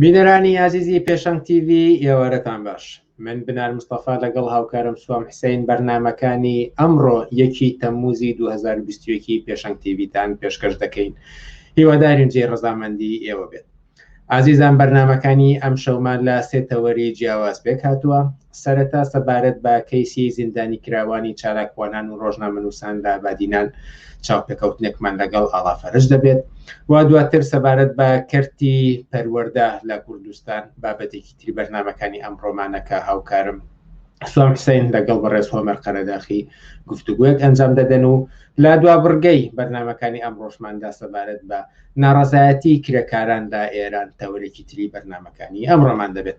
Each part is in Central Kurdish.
بینەرانی ئازیزی پێشەنگ تیوی ئێوارەتان باش من بنار مستەفا لەگەڵ هاوکارم سوام حسین بەرنمەکانی ئەمڕۆ یەکی تەمموزی 2020 پێشەنگ تیویتان پێشکەش دەکەین هیوادارین جێ ڕزامەندی ئێوە بێت ئازیزان بەرنمەکانی ئەم شەومان لە سێتەوەری جیاواز پێک هاتووە سەرەتا سەبارەت بە کەیسی زیندانیکراوانی چالاکوانان و ڕۆژنامەنووسان لە بادینان چاوپێکەوتنێکمان لەگەڵ ئاڵا فەرش دەبێت و دواتر سەبارەت بە کەرتی پەروەەردە لە کوردستان بابەتێکی تری بەرنمەکانی ئەم ڕۆمانەکە هاوکارم سوام حسین لەگەڵ بەڕێز هۆمەر قەرەداخی گفتوگوێک ئەنجام دەدەن و لا دوا بڕگەی بەرنمەکانی ئەم ڕۆژماندا سەبارەت بە ناڕزایەتی کرێکاران لە ئێران تەوەرێکی تری بەرنمەکانی ئەم ڕۆمان دەبێت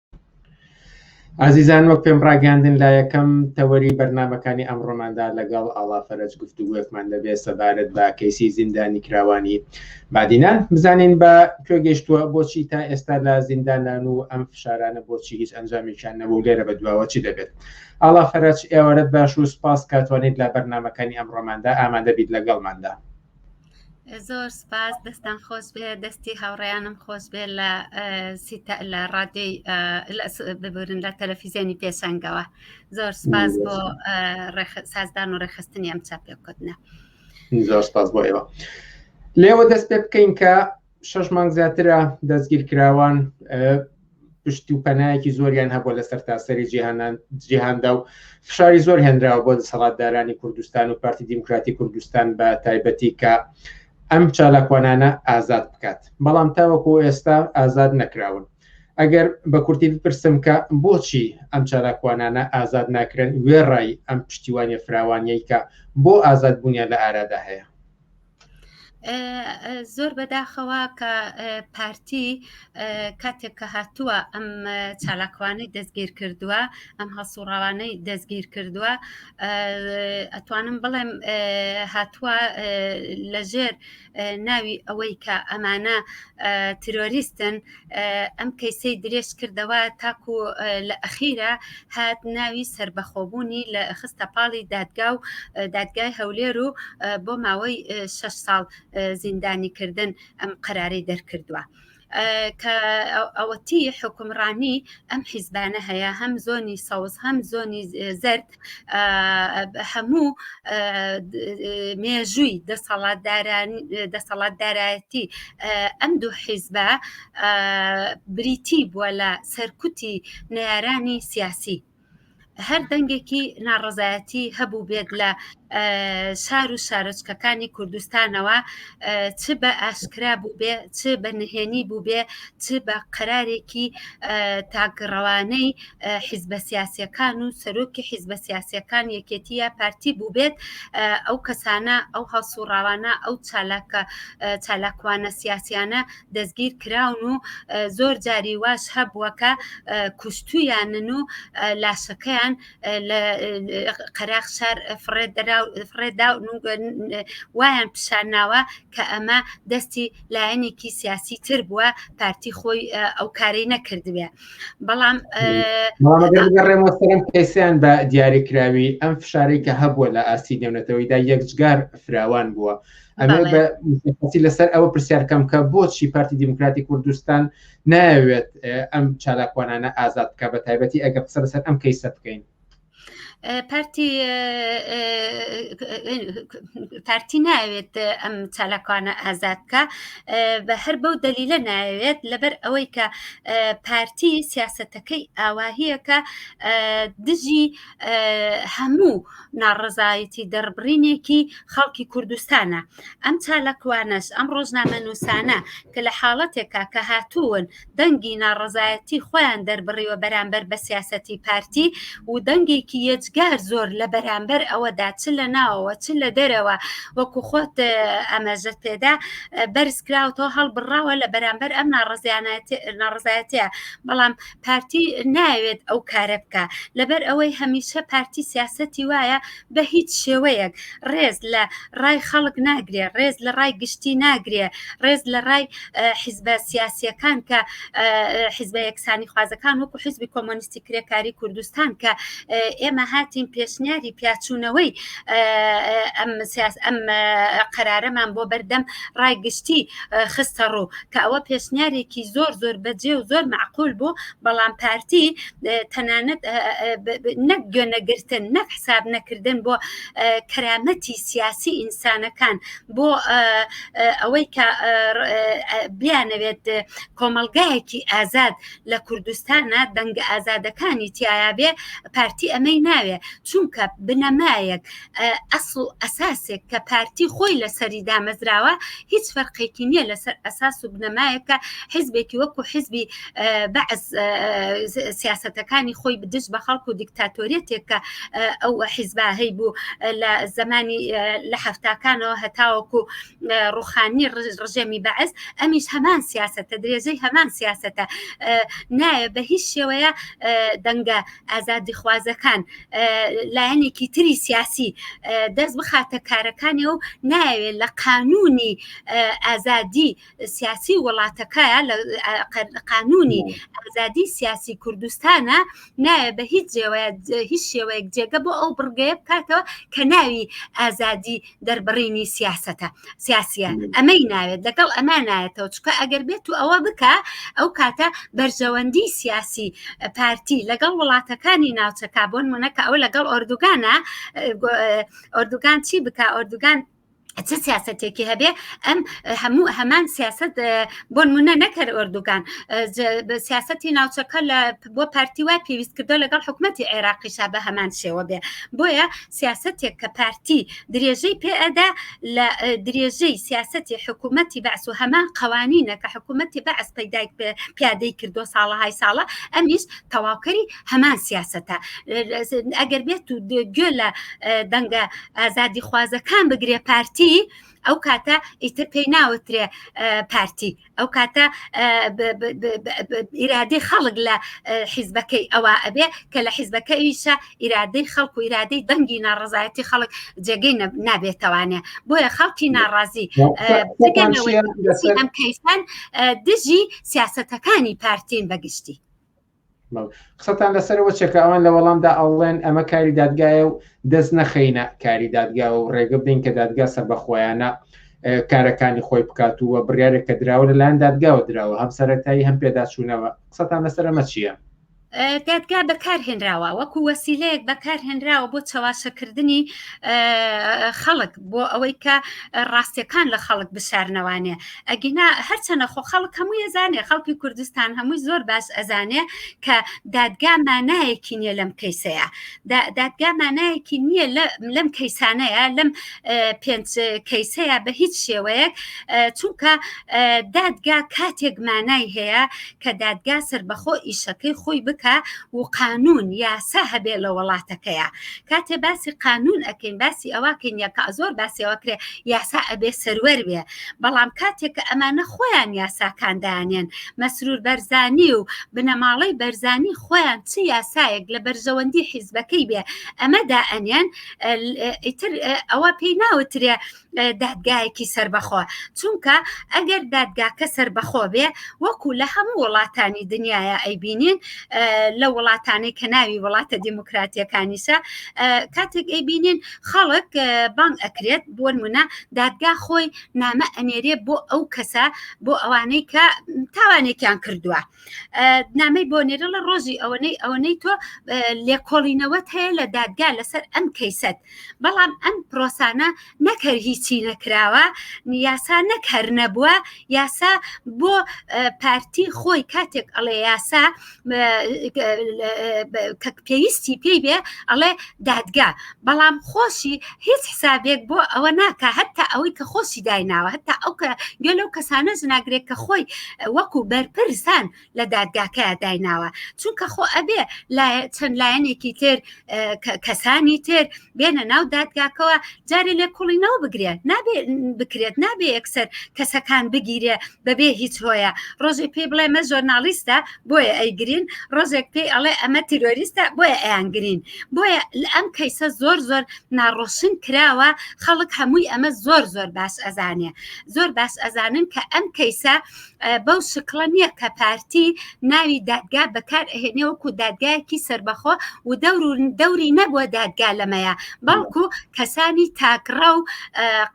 ئازیزان وەک پێم ڕاگەاندن لە یەکەم تەوەری بەرنمەکانی ئەمڕۆماندا لەگەڵ ئاڵا فەرەج گفتوگوێکمان دەبێت سەبارەت بە کەیسی زیندانی کراوانی بادینان بزانین بە کوێ گەشتووە بۆچی تا ئێستا لە زیندانان و ئەم فشارانە بۆچی هیچ ئەنجامیشان نەبوو لێرە بە دواوە چی دەبێت ئاڵا فەرەج ئێوارەت باش و سپاس کاتوانیت لە بەرنمەکانی ئەمڕۆماندا ئامادەبییت لەگەڵماندا زۆر سپاس دەستان خۆش بێ دەستی هاوڕیانم خۆش بێ لە لە ڕادێی ببورن لە تەلەفیزیۆنی پێشنگەوە زۆر سپاس بۆ سازدان و ڕێخستنی ئەم چاپێکوتنە زۆر سپاس بۆ ئێوە لێوە دەست پێ بکەین کە شەش مانگ زیاترە دەستگیرکراوان پشت و پەنایەکی زۆریان هەبوو لە سەرتاسەری جیهانان جیهاندا و فشاری زۆر هێنراوە بۆ دەسەڵاتدارانی کوردستان و پارتی دیموکراتی کوردستان بە تایبەتی کە ئەم چالاکوانانە ئازاد بکات بەڵام تاوەکو ئێستا ئازاد نەکراون ئەگەر بە کورتی بپرسم کە بۆچی ئەم چالاکوانانە ئازاد ناکرێن وێڕای ئەم پشتیوانی فراوانیەی کە بۆ ئازاد بوونیان لە ئارادا هەیە زۆر بەداخەوە کە پارتی کاتێک کە هاتووە ئەم چالاکوانەی دەستگیر کردووە ئەم هەسوڕاوانەی دەستگیر کردووە ئەتوانم بڵێم هاتووە لەژێر ناوی ئەوەی کە ئەمانە ترۆریستن ئەم کەیسەی درێژ کردەوە تاکو لە ئەخیرە هات ناوی سربەخۆبوونی لە خستە پاڵی دادگا و دادگای هەولێر و بۆ ماوەی 6 ساڵ زیندانی کردن ئەم قەرارەی دەرکردووە. کە ئەوەتی حکومڕانی ئەم حیزبانە هەیە هەم زۆنی سەوز هەم زۆنی زرد هەموو مێژووی دەسەڵاتدارایەتی ئەم دوو حیزبە بریتی بووە لە سەرکوتی نارانی سیاسی هەر دەنگێکی ناڕزایەتی هەبوو بێت لە شار و شارۆچکەکانی کوردستانەوە چ بە ئاشکرا بوو بێ چ بە نهێنی بوو بێ چ بە قەرارێکی تاگڕەوانەی حیزبە سیاسەکان و سەرۆکی حیزبە سیاسەکان یەکێتی یا پارتی بووبێت ئەو کەسانە ئەو هەڵسوڕاوانە ئەو چالاکە چالاکوانە سیاسیانە دەستگیر کراون و زۆر جاری واش هەبووەکە کوشتویانن و لاشەکەیان لە قەراق شار فڕێدا وایان پیشانناوە کە ئەمە دەستی لایەنێکی سیاسی تر بووە پارتی خۆی ئەو کارەی نەکردوێ بەڵام ڕێمەسەرم کەسیان بە دیاریکراوی ئەم فشارەی کە هەبووە لە ئاستی نێونەتەوەیدا یەکجگار فراوان بووە ئەمەسی لەسەر ئەوە پرسیارکەم کە بۆچی پارتی دیموکراتی کوردستان ناوێت ئەم چالاکوانانە ئازاد بکە بە تایبەتی ئەگە قسە لەسەر ئەم کەیسە بکەین پارتی پارتی ناوێت ئەم چالاکوانە ئازادکە بە هەر بەو دەلیلە ناوێت لەبەر ئەوەی کە پارتی سیاستەکەی ئاواهیەکە دژی هەموو ناڕزایەتی دەربڕینێکی خەڵکی کوردستانە ئەم چالاکوانەش ئەم ڕۆژنامە نووسانە کە لە حاڵەتێکا کە هاتوون دەنگی ناڕەزایەتی خۆیان دەربڕیوە بەرامبەر بە سیاسەتی پارتی و دەنگێکی یەجگار زۆر لە بەرامبەر ئەوەدا چ لە ناوەوە چ لە دەرەوە وەکو خۆت ئەمەژەت پێدا بەرزکراوەوە هەڵبڕاوە لە بەرامبەر ئەم ناڕزایەتە بەڵام پارتی ناوێت ئەو کارە بکە لەبەر ئەوەی هەمیشە پارتی سیاسەتی وایە بە هیچ شێوەیەک ڕێز لە ڕای خەڵک ناگرێ ڕێز لە ڕای گشتی ناگرێ ڕێز لە ڕای حیزبە سیاسیەکان کە حیزبە یەکسانی خوازەکان وەکو حیزبی کۆمۆنیستی کرێکاری کوردستان کە ئێمە هاتیم پێشنیاری پیاچوونەوەی ئەم سیاس ئەم قەرارەمان بۆ بەردەم ڕای گشتی خستە ڕوو کە ئەوە پێشنیارێکی زۆر زۆر بەجێ و زۆر معقول بوو بەڵام پارتی تەنانەت نەک گوێنەگرتن نەک حساب نەکردن بۆ کەرامەتی سیاسی ئینسانەکان بۆ ئەوەی کە بیانەوێت کۆمەلگایەکی ئازاد لە کوردستانە دەنگە ئازادەکانی تایە بێ پارتی ئەمەی ناوێ چونکە بنەمایەک ئەسڵ و ئەساسێک کە پارتی خۆی لەسەری دامەزراوە هیچ فەرقێکی نییە لەسەر ئەساس و بنەمایەکە حزبێکی وەکو حزبی بەعز سیاستەکانی خۆی بدش بە خەڵک و دیکتاتۆریەتێک کە ئەو حیزباهەی بوو لە زمانی لە هەفتاکانەوە هەتاوەکو ڕوخانی ڕژێمی بەعس ئەمیش هەمان سیاستە درێژەی هەمان سیاستە نایە بە هیچ شێوەیە دەنگە ئازادی خوازەکان لایەنێکی تری سیاسی دەست بخاتە کارەکانی و ناوێت لە قانونی ئازادی سیاسی وڵاتەکە لە قانونی ئازادی سیاسی کوردستانە نایە بە هیچ جێوەیە هیچ شێوەیەک جێگە بۆ ئەو بڕگەیە بکاتەوە کە ناوی ئازادی دەربڕینی سیاستە سیاسە ئەمەی ناوێت لەگەڵ ئەمە نایەتەوە چکە ئەگەر بێت و ئەوە بکە ئەو کاتە بەرژەوەندی سیاسی پارتی لەگەڵ وڵاتەکانی ناوچەکە بۆن منەکە ئەو لەگەڵ ئۆردوگانە ئۆردوگان چی بکە ئۆردوگان چ سیاستێکی هەبێ ئەم هەموو هەمان سیاست بۆ منە نەکەر ئۆردوگان سیاستی ناوچەکە لە بۆ پارتی وای پێویست کردو لەگەڵ حکوومەتتی عێراقیشا بە هەمان شێوە بێ بۆیە سیاستێک کە پارتی درێژەی پێئەدا لە درێژەی سیاستی حکوومەتتی بەس و هەمان قوانینە کە حکوومەتتی بەعس پەیدایک پیادەی کردو ساڵەهای ساڵە ئەمیش تەواوکەری هەمان سیاستە ئەگەر بێت و گوێ لە دەنگە ئازادی خوازەکان بگرێ پارتی ئەو کاتە ئیتر پێی ناوترێ پارتی ئەو کاتە ئیرادەی خەڵک لە حیزبەکەی ئەوە ئەبێ کە لە حیزبەکە ئیشە ئیرادەی خەڵک و ئیرادەی دەنگی ناڕزایەتی خەڵک جێگەی نابێتوانێ بۆیە خەڵکی ناڕازی ئەم کەیسان دژی سیاستەکانی پارتین بەگشتی قسەتان لەسەرەوە چێکە ئەوان لە وەڵامدا ئەڵێن ئەمە کاری دادگایە و دەست نەخینە کاری دادگا و ڕێگە بدەین کە دادگا سەر بەخۆیانە کارەکانی خۆی بکات و بڕارێک کە دراوە لەلایەن دادگاوە دراوە هەم سەرەتایی هەم پێداچوونەوە قسەتان لەسەرەمە چییە؟ دادگا بەکارهێنراوە وەکو وەسیلەیەک بەکارهێنراوە بۆ چەواشەکردنی خەڵک بۆ ئەوەی کە ڕاستیەکان لە خەڵک بشارنەوانێ ئەگینا هەرچەنە خۆ خەڵک هەموو ئەزانێ خەڵکی کوردستان هەمووی زۆر باش ئەزانێ کە دادگا مانایەکی نییە لەم کەیسەیە دادگا مانایەکی نییە لەم کەیسانەیە لەم پێنج کەیسەیە بە هیچ شێوەیەک چونکە دادگا کاتێک مانای هەیە کە دادگا سربەخۆ ئیشەکەی خۆی بکە و قانون یاسا هەبێ لە وڵاتەکەیە کاتێ باسی قانون ئەەکەین باسی ئەوەکەین یەکە زۆر باسیەوە کرێ یاسا ئەبێ سەروەر بێ بەڵام کاتێک کە ئەمانە خۆیان یاساکان دانێن مەسرور بەرزانی و بنەماڵەی بەرزانی خۆیان چ یاسایەک لە بەرژەوەندی حیزبەکەی بێ ئەمەدا ئەنێن ئیتر ئەوە پێی ناوترێ دادگایەکی سربەخۆ چونکە ئەگەر دادگاکە سربەخۆ بێ وەکو لە هەموو وڵاتانی دنیاە ئەیبینین لە وڵاتانی کە ناوی وڵاتە دیموکراتیەکانیشە کاتێک ئەیبینین خەڵک بانگ ئەکرێت بۆن منە دادگا خۆی نامە ئەنێرێ بۆ ئەو کەسە بۆ ئەوانەی کە تاوانێکیان کردووە نامەی بۆ نێرە لە ڕۆژی ئەوەنەی ئەوەنەی تۆ لێکۆڵینەوەت هەیە لە دادگا لەسەر ئەم کەیسەت بەڵام ئەم پرۆسانە نەکەر هیچی نەکراوە یاسا نەکەر نەبووە یاسا بۆ پارتی خۆی کاتێک ئەڵێ یاسا کە پێویستی پێی بێ ئەڵێ دادگا بەڵام خۆشی هیچ حسابێک بۆ ئەوە ناکە هەتا ئەوەی کە خۆشی دایناوە هەتا ئەو کە گوێ لەو کەسانە زناگرێت کە خۆی وەکو بەرپرسان لە دادگاکە دایناوە چونکە خۆ ئەبێ چەند لایەنێکی تر کەسانی تر بێنە ناو دادگاکەوە جارێ لێ کوڵینەوە بگرێت نابێ بکرێت نابێ یەکسەر کەسەکان بگیرێ بەبێ هیچ هۆیە ڕۆژی پێی بڵێ مە ژۆرناالیستە بۆیە ئەیگرین ڕۆژێک پێی ئەڵێ ئەمە تیرۆریستە بۆیە ئەیانگرین بۆیە ئەم کەیسە زۆر زۆر ناڕۆشن کراوە خەڵک هەمووی ئەمە زۆر زۆر باش ئەزانێ زۆر باش ئەزانن کە ئەم کەیسە بەو شکڵە نییە کە پارتی ناوی دادگا بەکار ئەهێنێ وەکو دادگایەکی سربەخۆ و دەور و دەوری نەبووە دادگا لەمەیە بەڵکو کەسانی تاکڕە و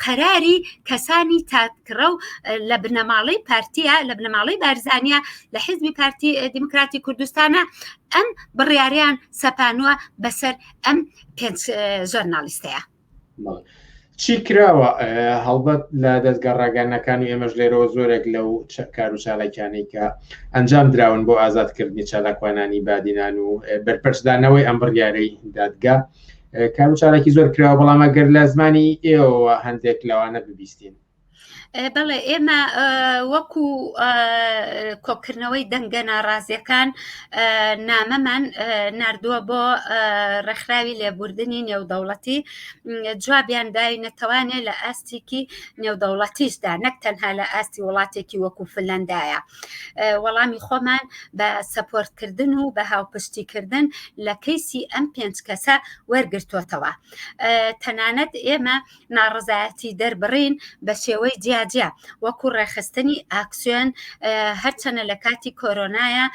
قەراری کەسانی تاکڕە و لە بنەماڵەی پارتیە لە بنەماڵەی بارزانیا لە حزبی پارتی دیموکراتی کوردستانە ئەم بڕیاریان سەپانوە بەسەر ئەم پێنج ژەرنالیستەیە چی کراوە هەڵبەت لە دەستگە ڕاگەنەکانی ئێمەش لێرەوە زۆرێک لەو کار و چالاکیانی کە ئەنجام دراون بۆ ئازادکردنی چالاکوانانی بادینان و بەرپەرچدانەوەی ئەم بڕیارەی دادگا کار و چالاکی زۆر کراوە بەڵام ئەگەر لە زمانی ئێوە هەندێک لەوانە ببیستین بەڵێ ئێمە وەکو کۆکردنەوەی دەنگە ناڕازیەکان نامەمان نردووە بۆ ڕێکخراوی لێبوردنی نێودەوڵەتی جوابیان داوی نەتەوانێ لە ئاستێکی نێودەوڵەتیشدا نەک تەنها لە ئاستی وڵاتێکی وەکو فلەندایە وەڵامی خۆمان بە سەپۆرتکردن و بە هاوپشتیکردن لە کەیسی ئەم پێنج کەسە وەرگرتوتەوە تەنانەت ئێمە ناڕزایەتی دەربڕین بە شێوەی جیاجیا وەکو ڕێخستنی ئاکسیۆن هەرچەنە لە کاتی کۆرۆنایە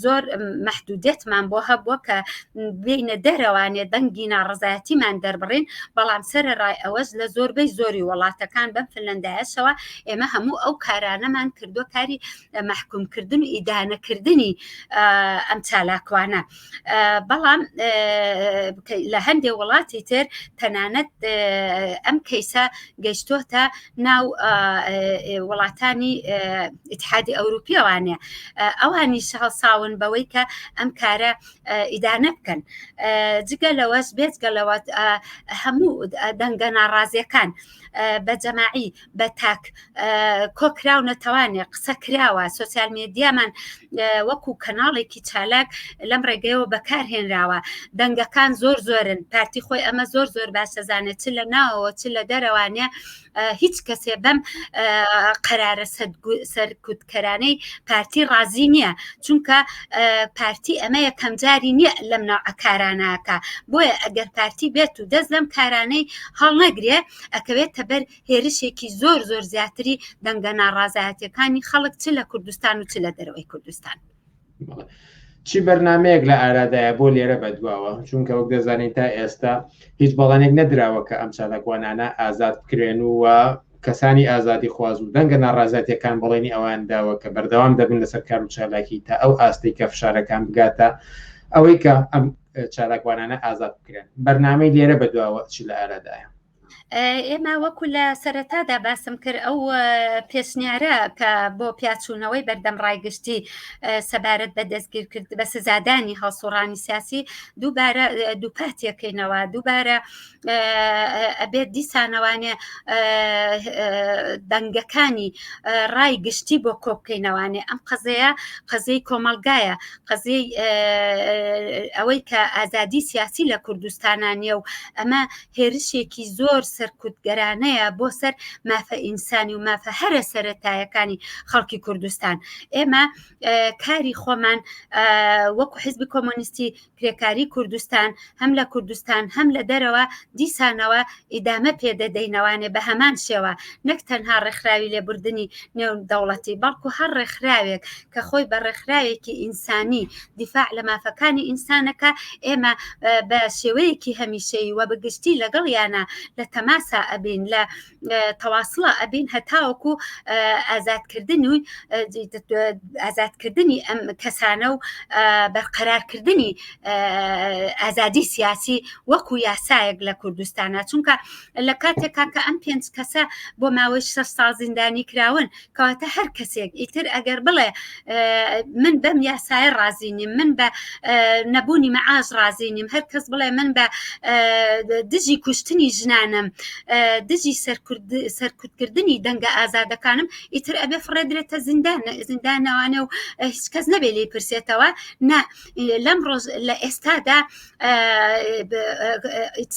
زۆر محدودێتمان بۆ هەبووە کە بینە دەرەوانێت دەنگی ناڕزایەتیمان دەربڕین بەڵام سەر ڕای ئەوەش لە زۆربەی زۆری وڵاتەکان بەم فلندایشەوە ئێمە هەموو ئەو کارانەمان کردو کاری محکومکردن و ئیدانەکردنی ئەم چالاکوانە بەڵام لە هەندێ وڵاتی تر تەنانەت ئەم کەیسە گەشتۆتە ناو وڵاتانی ئتحادی ئەوروپیەوانە ئەوانی شەهڵساون بەوەی کە ئەم کارە ئیدانە بکەن جگە لەوەش بێت گەلەوەت هەموو دەنگە ناڕازیەکان بە جەماعی بە تاک کۆکراونە تاوانێ قسە کراوە سوسیال مێدیامان وەکو کەناڵێکی چالاک لەم ڕێگەیەوە بەکارهێنراوە دەنگەکان زۆر زۆرن پارتی خۆی ئەمە زۆر زۆر باشەزانێت چ لە ناوەوە چ لە دەرەوانە هیچ کەسێ بەم قەرارە سەرکوت کەرانەی پارتی ڕازی نییە چونکە پارتی ئەمە یەکەم جاری نییە لەم ناوعە کاراناکە بۆیە ئەگەر پارتی بێت و دەست لەم کارانەی هەڵنەگرێ ئەکەوێت تەبەر هێرشێکی زۆر زۆر زیاتری دەنگە ناڕازایەتەکانی خەڵک چ لە کوردستان و چ لە دەرەوەی کوردستان. چی بەرنمەیەک لە ئارادایە بۆ لێرە بەدواوە چونکە وەک دەزانین تا ئێستا هیچ بەڵانێک نەدراوە کە ئەم چالاکوانانە ئازاد بکرێن و کەسانی ئازادی خواز و دەنگە ناڕازاتیەکان بەڵێنی ئەوان داوە کە بەردەوام دەبن لەسەر کار و چالاکی تا ئەو ئاستی کە فشارەکان بگاتە ئەوەی کە ئەم چالاکوانانە ئازاد بکرێن بەرنمەی لێرە بەدواوە چی لە ئارادایە ئێمە وەکو لە سەرەتادا باسم کرد ئەو پێشنیارە کە بۆ پیاچوونەوەی بەردەم ڕایگشتی سەبارەت بە دەستگیر کرد بە سزادانی هەڵسوڕانی سیاسی دووبارە دووپاتیەکەینەوە دووبارە ئەبێت دیسانەوانێ دەنگەکانی ڕای گشتی بۆ کۆبکەینەوانێ ئەم قەزەیە قەزەی کۆمەلگایە قەزەی ئەوەی کە ئازادی سیاسی لە کوردستانانیە و ئەمە هێرشێکی زۆر سەرکوتگەرانەیە بۆ سەر مافە ئینسانی و مافە هەرە سەرەتایەکانی خەڵکی کوردستان ئێمە کاری خۆمان وەکو حزبی کۆمۆنیستی کرێکاری کوردستان هەم لە کوردستان هەم لە دەرەوە دیسانەوە ئیدامە پێدەدەینەوانێ بە هەمان شێوە نەک تەنها ڕێکخراوی لێبوردنی نێو دەوڵەتی بەڵکو هەر ڕێکخراوێک کە خۆی بە ڕێکخراوێکی ئینسانی دیفاع لە مافەکانی ئینسانەکە ئێمە بە شێوەیەکی هەمیشەی وە بەگشتی لەگەڵ یانە لە تەماسا ئەبین لە تەواسڵە ئەبین هەتاوەکو ئازادکردن و ئازادکردنی ئەم کەسانە و بەرقەرارکردنی ئازادی سیاسی وەکو یاسایەک لە کوردستانە چونکە لە کاتێکا کە ئەم پێنج کەسە بۆ ماوەی شە سازیندانی کراون کەواتە هەر کەسێک ئیتر ئەگەر بڵێ من بەم یاسایە ڕازی نیم من بە نەبوونی مەعاش ڕازی نیم هەر کەس بڵێ من بە دژی کوشتنی ژنانم دژی سەرکوتکردنی دەنگە ئازادەکانم ئیتر ئەبێ فڕێدرێتە زیندان زیندانەوانە و هیچ کەس نەبێ لی پرسێتەوە نا لەم ڕۆژ لە ئێستادا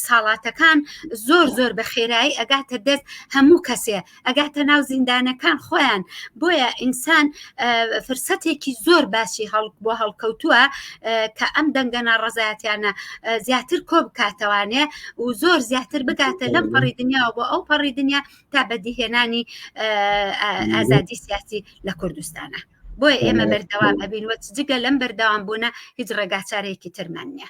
ساڵاتەکان زۆر زۆر بە خێرایی ئەگاتە دەست هەموو کەسێ ئەگاتە ناو زیندانەکان خۆیان بۆیە ئینسان فرسەتێکی زۆر باسی هەڵک بۆ هەڵکەوتووە کە ئەم دەنگە ناڕزایەتیانە زیاتر کۆ بکاتەوانێ و زۆر زیاتر بگاتە لەم پەڕی دنیاوە بۆ ئەو پەڕی دنیا تا بەدیهێنانی ئازادی سیاسی لە کوردستانە بۆیە ئێمە بەردەوام ئەبین وە جگە لەم بەردەوام بوونە هیچ ڕێگاچارێکی ترمان نیە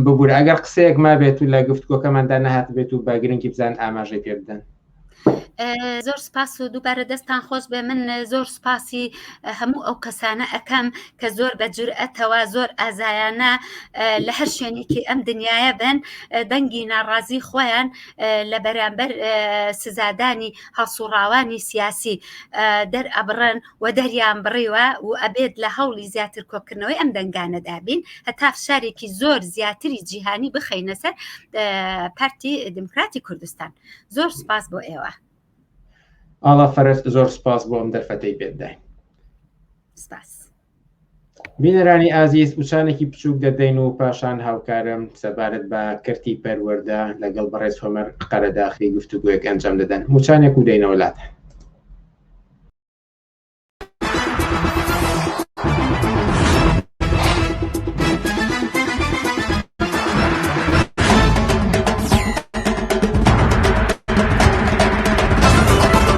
ببورە ئەگەر قسەیەک ما بێت و لە گفتگۆکەماندا نەهات بێت و بە گرنگی بزان ئاماژەی پێ بدەن زۆر سپاس و دووبارە دەستان خۆش بێ من زۆر سپاسی هەموو ئەو کەسانە ئەەکەم کە زۆر بە جورئەتەوە زۆر ئازایانە لە هەر شوێنێکی ئەم دنیاە بن دەنگی ناڕازی خۆیان لە بەرامبەر سزادانی هەڵسوڕاوانی سیاسی دەرئەبڕن و دەریان بڕیوە و ئەبێت لە هەوڵی زیاتر کۆکردنەوەی ئەم دەنگانەدابین هەتا فشارێکی زۆر زیاتری جیهانی بخەینە سەر پارتی دموکراتی کوردستان زۆر سپاس بۆ ئێوە ئاڵا فەرست زۆر سپاس بۆ ئەم دەرفەتەی پێداین سپاس بینەرانی ئازیز وچانێکی بچووک دەدەین و پاشان هاوکارم سەبارەت بە کەرتی پەروەەردە لەگەڵ بەڕێز هۆمەر قەرەداخی گفتوگوۆک ئەنجام دەدەن وچانێک و دەینەوە لاتە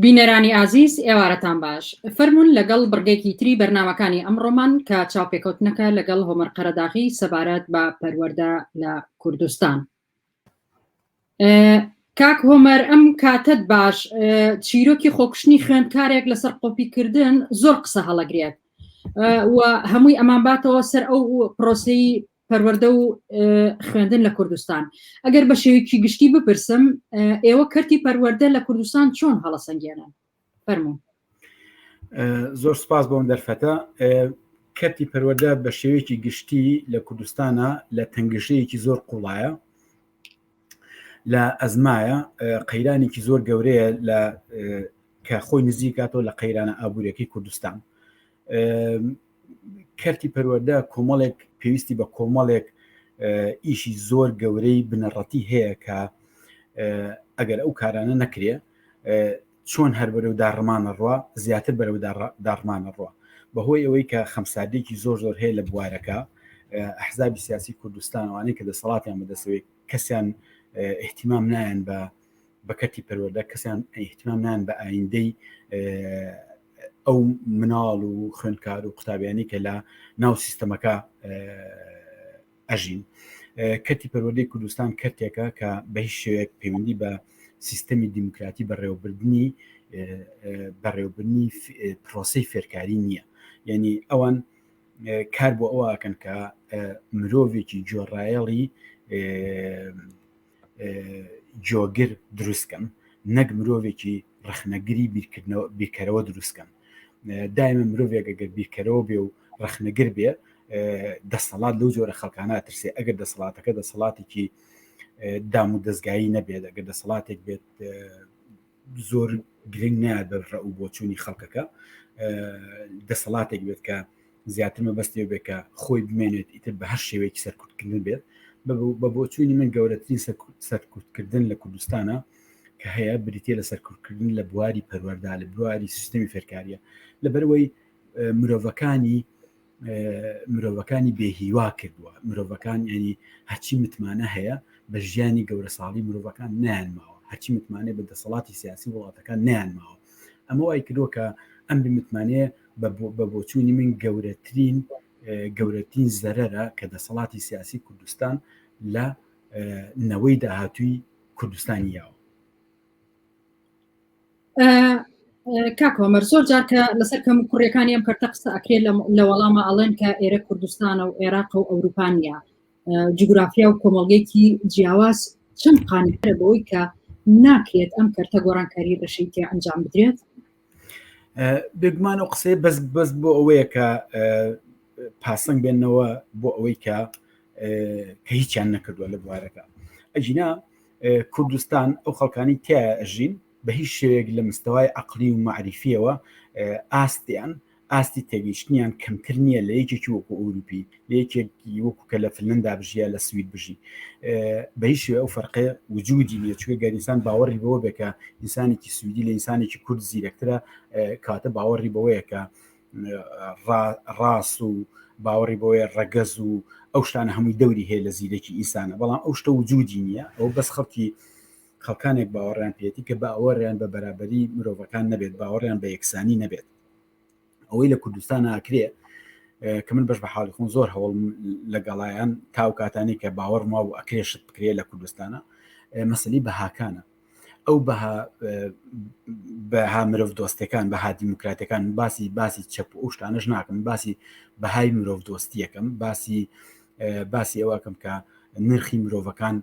بینەرانی ئازیز ئێوارەتان باش فەرمونون لەگەڵ بڕگێکی تری بەرنمەکانی ئەمڕۆمان کە چاوپێکەوتنەکە لەگەڵ هۆمەر قەرەداغی سەبارەت بە پەروەەردە لە کوردستان کاک هۆمەر ئەم کاتت باش چیرۆکی خۆکشتنی خوێندکارێک لەسەر قۆپیکردن زۆر قسە هەڵەگرێت و هەمووی ئەمان باتەوە سەر ئەو پرۆسی پەروەردە و خوێندن لە کوردستان ئەگەر بە شێوکی گشتی بپرسم ئێوە کەرتی پەروەردە لە کوردستان چۆن هەڵەسەنگێنن فەرمو زۆر سپاس بۆم دەرفەتە کەتی پەروەدە بە شێوەیەکی گشتی لە کوردستانە لە تەنگشەیەکی زۆر قوڵایە لە ئەزمایە قەیرانێکی زۆر گەورەیە لە کە خۆی نزیکاتەوە لە قەیرانە ئابوووریەکەی کوردستان کەرتی پەروەەردە کۆمەڵێک پێویستی بە کۆمەڵێک ئیشی زۆر گەورەی بنەڕەتی هەیە کە ئەگەر ئەو کارانە نەکرێ چۆن هەر بەرەو داڕمانە ڕوە زیاتر بەرەو داڕمانە ڕوە بەهۆی ئەوەی کە خەمسادێکی زۆر زۆر هەیە لە بوارەکە ئەحزابی سیاسی کوردستانوانەی کە دەسەڵاتیان بەدەسەوەی کەسیان احتیمام نایەن بە بە کەرتی پەروەدا کەسیان ئەیحتمام نان بە ئایندەی ئەو مناڵ و خوێندکار و قوتابیانی کە لە ناو سیستەمەکە ئەژین کەتی پەروەدەی کوردستان کەرتێکە کە بە هیچ شوێک پەیوەندی بە سیستەمی دیموکراتی بەڕێوەبردننی بەڕێوبنی پرۆسی فێرکاری نییە یعنی ئەوان کار بۆ ئەوکەن کە مرۆڤێکی جۆڕایەڵی جۆگر دروستکەن نەک مرۆڤێکی ڕخنەگری بیرکەرەوە دروستکەن دایمە مرۆڤێک گەر بیرکەرەوە بێ و ڕخنەگر بێ دەسەڵات لەو جۆرە خەڵکانە ترسێ ئەگەر دەسەڵاتەکە دەسەڵاتێکی دام و دەستگایی نەبێت ئەگەر دەسەڵاتێک بێت زۆر گرنگ نایە بە ڕە و بۆچوونی خەڵکەکە دەسەڵاتێک بێت کە زیاتر مەبەستێ بێت کە خۆی بمێنێت ئیتر بە هەر شێوەیەکی سەرکوتکردن بێت بە بۆچوونی من گەورەترین سەرکوتکردن لە کوردستانە کە هەیە بریتە لە سەرکوتکردن لە بواری پەروەەردا لە بواری سیستمی فێرکاریە لەبەرەوەی مرۆڤەکانی مرۆڤەکانی بێهیوا کردووە مرۆڤەکان ینی هەچی متمانە هەیە بە ژیانی گەورە ساڵی مرۆڤەکان نیان ماوە هەچی متمانێ بە دەسەڵاتی سیاسی وڵاتەکان نیان ماوە ئەمە وای کردووە کە ئەم بمتمانەیە بە بۆچوونی من گەورەترین گەورەترین زەرەرە کە دەسەڵاتی سیاسی کوردستان لە نەوەی داهاتووی کوردستانی یاوە کاکۆمەر زۆر جارکە لەسەر کەم کوڕەکانی ئەم کەرتە قسە ئەکرێت لە وەڵامە ئەڵێن کە ئێرە کوردستانە و عێراق و ئەوروپانیا جوگرافیا و کۆمەڵگەیەکی جیاواز چەند قانیترە بەوەی کە ناکرێت ئەم کەرتە گۆڕانکاری ڕەشەی تێ ئەنجام بدرێت بێگومان و قسەی بەس بەس بۆ ئەوەیە کە پاسەنگ بێنەوە بۆ ئەوەی کە کە هیچیان نەکردووە لە بوارەکە ئەجینا کوردستان ئەو خەڵکانی تایە ئەژین بە هیچ شێوێک لە مستەوای عقلی و معریفیەوە ئاستیان ئاستی تێگەیشتنیان کەمتر نییە لە یەکێکی وەکو ئەوروپی لە یەکێکی وەکو کە لە فلندا بژیە لە سوید بژی بە هیچ شێ ئەو فەرقێ وجودی نیە چوێ گەریسان باوەڕی بەوە بێکە ئینسانێکی سویدی لە ئینسانێکی کورد زیرەکترە کاتە باوەڕی بەوەیەکە ڕاست و باوەڕی بۆیە ڕەگەز و ئەو شتانە هەمووی دەوری هەیە لە زیرەکی ئینسانە بەڵام ئەو شتە و جوودی نییە ئەو بەس خەڵکی خەڵکانێک باوەڕیان پێێتی کە باوەڕیان بە بەرابەری مرۆڤەکان نەبێت باوەڕیان بە یەکسانی نەبێت ئەوەی لە کوردستان ناکرێ کە من بەش بە حاڵی خۆن زۆر هەوڵ لەگەڵایان تاو کاتانی کە باوەڕما و ئەکرێشت بکرێت لە کوردستانە مەسلی بەهاکانە ئەو بەها بەها مرۆڤ دۆستەکان بەها دیموکراتەکان باسی باسی چەپ ئەو شتانەش ناکەم باسی بەهای مرۆڤ دۆستیەکەم باسی باسی ئەوەکەم کە نرخی مرۆڤەکان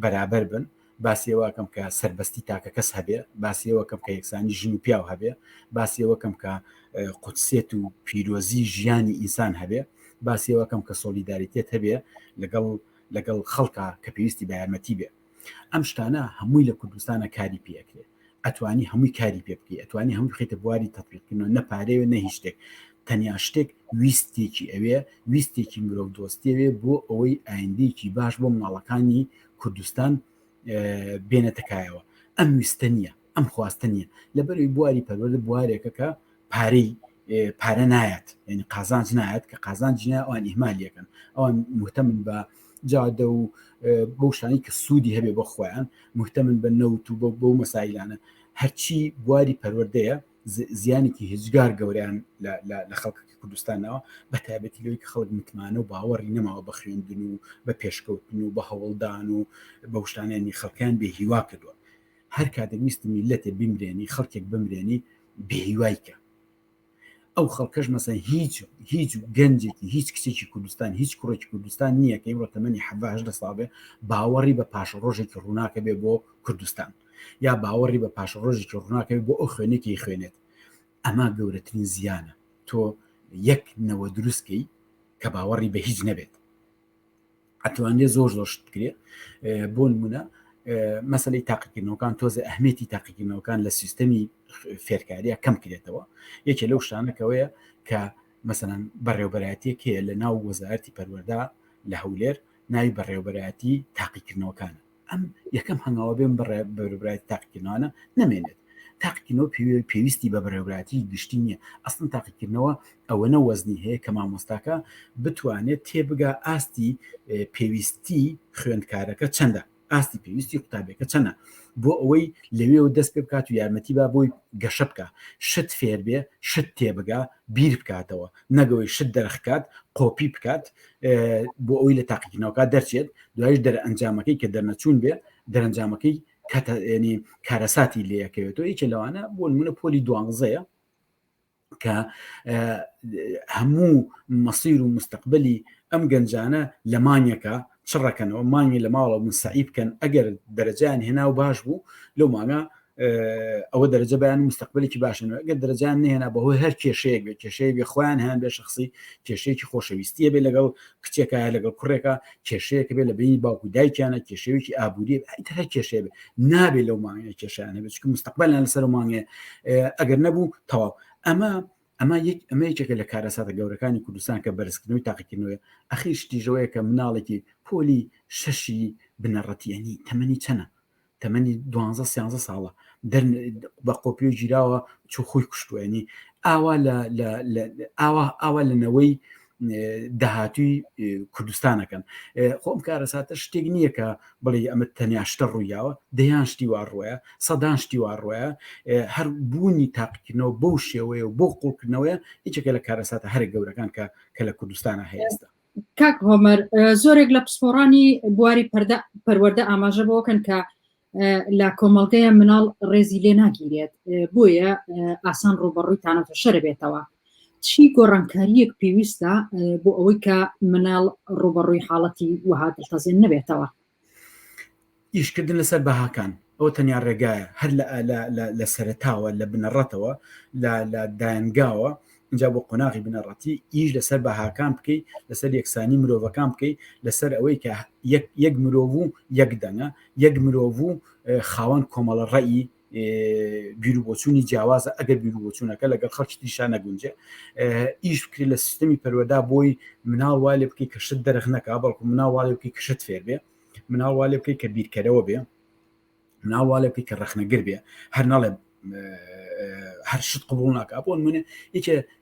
بەرابەر بن باسیەوەکەم کە سربەستی تاکە کەس هەبێ باسیەوەکەم کە یەکسانی ژن و پیاو هەبێ باسیەوەکەم کە قوتسێت و پیرۆزی ژیانی ئینسان هەبێ باسیەوەکەم کە سۆلیداریتێت هەبێ لەگەڵ لەگەڵ خەڵکە کە پێویستی بە یارمەتی بێ ئەم شتانە هەمووی لە کوردستانە کاری پێکرێت ئەتوانی هەمووی کاری پێ بکەی ئەتوانی هەموو خیتە بواری تەپیقینەوە نەپارەیە نە هیچ شتێک تەنیا شتێک ویستێکی ئەوێ ویستێکی مرۆڤ دۆستێوێ بۆ ئەوەی ئایندێکی باش بۆ مناڵەکانی کوردستان بێنەتەکایەوە ئەم ویستە نیە ئەم خواستە نیە لەبەروی بواری پەروەدە بوارێکەکە پارەی پارە نایەت یعنی قازانج نایەت کە قازانج نیە ئەوان ئیهمالیەکەن ئەوان مهتەمن بە جادە و بەو شانی کە سوودی هەبێ بە خۆیان مهتەمن بە نەوت و بەو مەسایلانە هەرچی بواری پەروەردەیە زیانێکی هزگار گەوریان لە خەڵکی کوردستانەوە بە تایبەتی لەوەی کە خەڵک متمانە و باوەڕی نەماوە بە خوێندن و بە پێشکەوتن و بە هەوڵدان و بە شتانێنی خەڵکیان بێ هیوا کردووە هەر کاتێک ویستی میلەتێ بیمرێنی خەڵکێک بمرێنی بێهیوای کە ئەو خەڵکەش مەسە هیچ هیچ گەنجێکی هیچ کچێکی کوردستان هیچ کوڕێکی کوردستان نییە کە ئمڕۆ تەمەنی حەهش دە ساڵێ باوەڕی بە پاش ڕۆژێکی ڕووناکە بێ بۆ کوردستان یا باوەڕی بە پاش ڕۆژێکی ڕووناکە بۆ ئەو خوێنێکی خوێنێت ئەمە گەورەترین زیانە تۆ یەک نەوە دروستکەی کە باوەڕی بە هیچ نەبێت ئەتوانێت زۆر زۆر شت بکرێت بۆ نمونە مەسلەی تاقیکردنەوەکان تۆزە ئەهمێتی تاقیکردنەوەکان لە سیستەمی فێرکاریە کەم کرێتەوە یەکێ لەو شتانەکەوەیە کە مەسەەن بەڕێوبەراتیەک هەیە لە ناو وەزارتی پەروەدا لە هەولێر ناوی بەڕێوبەرایەتی تاقیکردنەوەکان ئەم یەکەم هەنگاوە بێن بڕێ بەرەبرای تاقیکردنەوەە نامێنێت تاقیکردنەوە پێویستی بە بەرەبراتی گشتی نییە ئەستن تاقیکردنەوە ئەوەنە وەزنی هەیە کە مامۆستاکە بتوانێت تێبگا ئاستی پێویستی خوێندکارەکە چەندە ئاستی پێویستی قوتابێکە چەنە بۆ ئەوەی لەوێ و دەست پێ بکات و یارمەتی با بۆی گەشە بکە شت فێر بێ شت تێبگا بیر بکاتەوە نەگەوەی شت دەرخکات قۆپی بکات بۆ ئەوی لە تاقیکردنەوەکە دەرچێت دوایش دەرئەنجامەکەی کە دەرنەچوون بێ دەرەنجامەکەی کەتەێنی کارەساتی لەکەوێتەوە یچە لەوانە بۆ منە پۆلی دوانزەیە کە هەموو مەسیر و مستقبلی ئەم گەنجانە لە مانیەکە چڕەکەنەوە مانگی لە ماڵە من سعی بکەن ئەگەر دەرەجیان هێنا و باش بوو لەو ماگە ئەوە دەرەجە بەیان مستەقبلێکی باشن ئەگەر دەرەجان نهێنا بەهۆی هەر کێشەیەک بێ کێشەیە بێ خۆیان هەیان بێ شخصی کێشەیەکی خۆشەویستیە بێ لەگەڵ کچێکە لەگەڵ کوڕێکە کێشەیەکە بێ لە بینی باوکو دایکیانە کێشەیەکی ئابووری هەر کێشەیە بێ نابێ لەو مانگە کێشیان هەبێت چکە مستەقبلان لەسەر مانگێ ئەگەر نەبوو تەواو ئەمە ئەمە یەک ئەمە یەکێکە لە کارەساتە گەورەکانی کوردستان کە بەرزکردنەوەی تاقیکردنەوە ئەخیش تیژەوەیە کە مناڵێکی پۆلی شەشی بنەڕەتیانی تەمەنی چەنە تەمەنی دوانزە سیانزە ساڵە دەر بە قۆپی و گیراوە چوو خۆی کوشتوێنی ئاوا ئاوا ئاوا لە نەوەی داهاتوی کوردستانەکەن خۆم کارەساتە شتێک نییە کە بڵێ ئەمە تەنیا شتە ڕوویاوە دەیان شتی وا ڕۆیە سەدان شتی وا ڕۆیە هەر بوونی تاقیکردنەوە بەو شێوەیە و بۆ قوڵکردنەوەە یەکێکە لە کارەساتە هەرە گەورەکان کە کە لە کوردستانە هەیەستا کاک هۆمەر زۆرێک لە پسپۆڕانی بواری پەردە پەروەەردە ئاماژە بۆکەن کە لە کۆمەڵگەیە مناڵ ڕێزی لێ ناگیرێت بۆیە ئاسان ڕوبەڕوویتانەتە شەر بێتەوە چی گۆڕانکاریەک پێویستە بۆ ئەوەی کە مناڵ ڕوبەڕووی حاڵەتی وهاتەزێن نەبێتەوە ئیشکردن لەسەر بەهاکان ئەوە تەنیا ڕێگایە هەر لە سەرتاوە لە بنەڕەتەوە لە دایەنگاوە اینجا بۆ قۆناغی بنەڕەتی ئیش لەسەر بەهاکان بکەی لەسەر یەکسانی مرۆڤەکان بکەی لەسەر ئەوەی کە یەک مرۆڤ و یەک دەنگە یەک مرۆڤ و خاوەن کۆمەڵە ڕێی بیرروبچوونی جیاوازە ئەگەر بیرروبچوونەکە لەگەڵ خەڵکی تریشا نەگونجێ ئیش بکرێت لە سیستمی پەروەدا بۆی مناڵوا لێ بکەی کەشت دەرخ نەکا بەڵکو مناڵواێ بکەی کەشت فێر بێ مناڵوا لێ بکەی کە بیرکەرەوە بێ مناڵوا لێ بکەی کە ڕەخنەگر بێ هەر ناڵێ هەر شت قبول ناکە بۆن منێ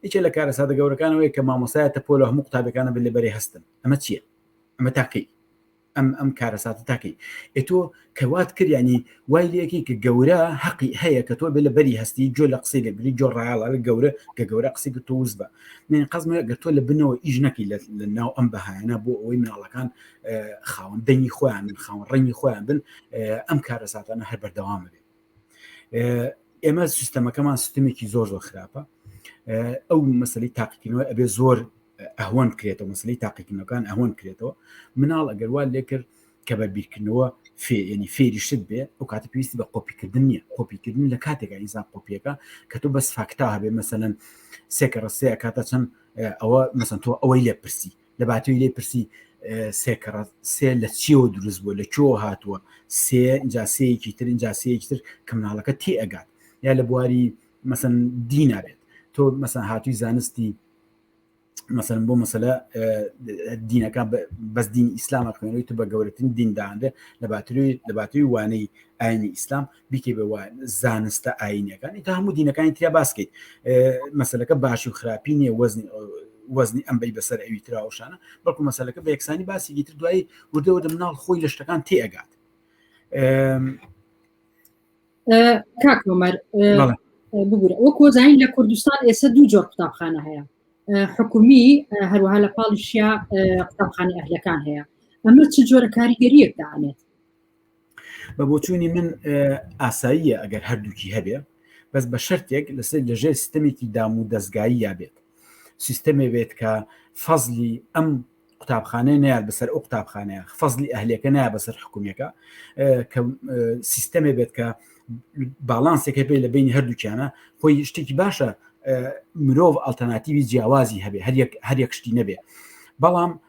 یکێ لە کارە سادە گەورەکانەوەی کە مامۆسایەتە پۆل هەموو قوتابەکانە بێ لە بەرێ هەستن ئەمە چییە ئەمە تاکەی ئەم ئەم کارەساتە تاکەی ئێ تۆ کەوات کردیانی وای لەکی کە گەورە حەقی هەیە کە تۆ بێ لە بەری هەستی جۆ لە قسەی لەگری جۆ ڕایڵە لە گەورە کە گەورە قسەی کە تۆوز بە من قەزمە گە تۆ لە بنەوە ئیش نەکی لە ناو ئەم بەهایانە بۆ ئەوەی مناڵەکان خاوەن دەنگی خۆیان من خاوەن ڕەنگی خۆیان بن ئەم کارەساتانە هەر بەردەوامە بێت ئێمە سیستەمەکەمان سیستمێکی زۆر زۆر خراپە ئەو مەسلی تاقیکردنەوە ئەبێ زۆر ئەهۆن کرێتەوە مەسلی تاقیکردنەکان ئەهۆن کرێتەوە مناڵ ئەگەر وا لێ کرد کە بە بیرکردنەوە فێنی فێریشت بێ ئەو کاتە پێویستی بە قۆپیکردن نیە قۆپیکردن لە کاتێکا ئینسان قۆپیەکە کە تۆ بەس فاکتا هەبێ مەسەەن سێکە ڕستەیە کاتە چەند ئەوە مەسن تۆ ئەوەی لێ پرسی لە باتوی لێ پرسی سێکەڕە سێ لە چیەوە دروست بووە لە کۆ هاتووە سێ جاسەیەکی تر جاسەیەکی تر کە مناڵەکە تێ ئەگات یا لە بواری مەسن دی نابێت تۆ مەسەن هاتووی زانستی مەسەن بۆ مەسەلە دینەکە بەس دین ئیسلامە خوێنەوەی تو بە گەورەترین دینداانێ لە باتری لە باتری وانەی ئاینی ئیسلام بیکەی بە زانستە ئاینەکان ئیتا هەموو دینەکانی تیا باسکەیت مەسلەکە باشی و خراپی نیە وەزنی وەزنی ئەم بەی بەسەر ئەوی تراوشانە بەڵکو مەسلەکە بە یەکسانی باسی گیتر دوایی وردەوە دەمناڵ خۆی لە شتەکان تێگات کاکۆمەر ببوورە وە کۆزانین لە کوردستان ئێستا دوو جۆر قوتابخانە هەیە حکومی هەروەها لە پاڵیشیا قوتابخانە ئەهلەکان هەیە ئەمە چ جۆرە کاریگەریەک دانێت بە بۆچوونی من ئاساییە ئەگەر هەردووکی هەبێ بەس بە شەرتێک لەسەر لەژێر سیستەمێکی دام و دەستگایی یا بێت سیستەمێ بێت کە فەزلی ئەم قوتابخانەیە نیان بەسەر ئەو قوتابخانەیە فەزلی ئەهلەکە نایە بەسەر حکوومەکە کە سیستەمێ بێت کە باڵانسێکە پێ لە بینی هەردووکیانە خۆی شتێکی باشە مرۆڤ ئەلتەناتیوی جیاوازی هەبێ هەریەک هەریەک شتی نەبێ بەڵام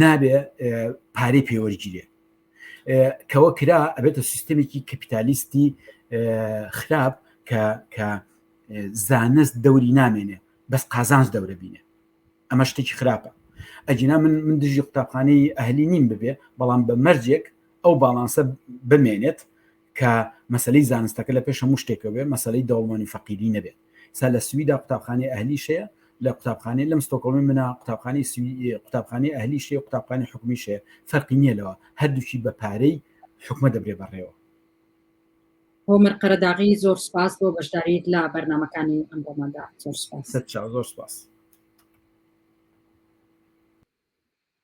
نابێ پارەی پێوەرگیرێ کەەوە کرا ئەبێتە سیستمێکی کەپیتالیستی خراپ کە کە زانست دەوری نامێنێ بەس قازانس دەورە بینێ ئەمە شتێکی خراپە ئەجینا من من دژی قوتابخانەی ئەهلی نیم ببێ بەڵام بە مەرجێک ئەو باڵانسە بمێنێت کە مەسەلەی زانستەکە لە پێش هەموو شتێکە بێ مەسەلەی دەوڵمانی فەقیری نەبێ سا لە سویدا قوتابخانەی ئەهلی شەیە لە قوتابخانەی لەم ستۆکۆڵمی منە قوتابخانی قوتابخانی ئەهلی شێ قوتابخانی حکومی شێ فەرقی نییە لەوە هەردووشی بە پارەی حکومە دەبرێ بەڕێوە هۆمەر قەرەداغی زۆر سپاس بۆ بەشداریت لە بەرنمەکانی ئەم بۆمەدا زۆر سپاس زۆر سپاس